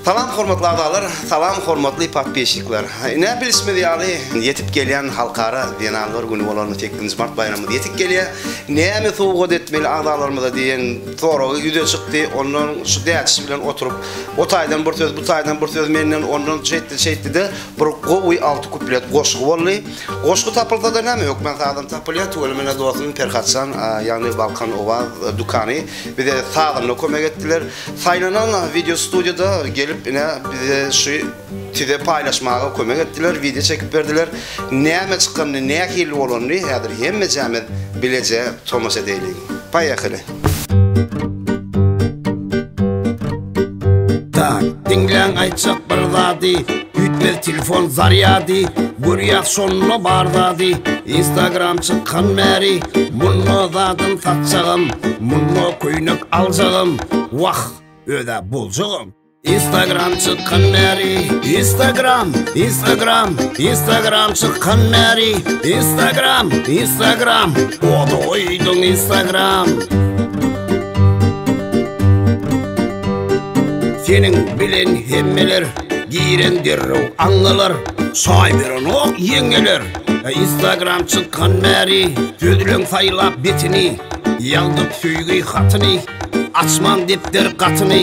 Salam hormatly agzalar, salam hormatly podpisçikler. Ine bilişimiz ýaly ýetip gelýän halkara zenanlar güni bolan 8-nji mart baýramymyz ýetip gelýär. Näme sowgat etmeli agzalarymyza diýen soragy ýüze çykdy. Ondan şu dädişi bilen oturyp, o taýdan bir söz, bu taýdan bir söz menden ondan şeýtdi, şeýtdi-de bir gowy alty kuplet goşgy boldy. Goşgy tapylsa-da näme hökman sazam tapylýar. Tüweleme dostuň Perhatjan, ýagny Balkan Owaz dükany. Bize sazanda kömek etdiler. Saýlanan wideo studiýada gelip ine bize şu tize paýlaşmaga kömek etdiler, wideo çekip berdiler. Näme çykanyny, nähili bolanyny häzir hemmejämiz bileje tomaşa edeýliň. Paýakyly. Tak, diňläň aýtjak bir zady Üýtmez telefon zarýady Görýäs şonda bar zady Instagram çykan bäri Munda zadym satjagam Munda köýnek aljagam Wah, özä boljagam Instagram çykan bäri Instagram, Instagram Instagram çykan bäri Instagram, Instagram Oda oýduň Instagram Seniň bilen hemmeler Giren derrew aňalar Şaý berenok ýeňňeler Instagram çykan bäri Sözleň saýlap betini Ýazdyk söýgi hatyny Açman depder gatyny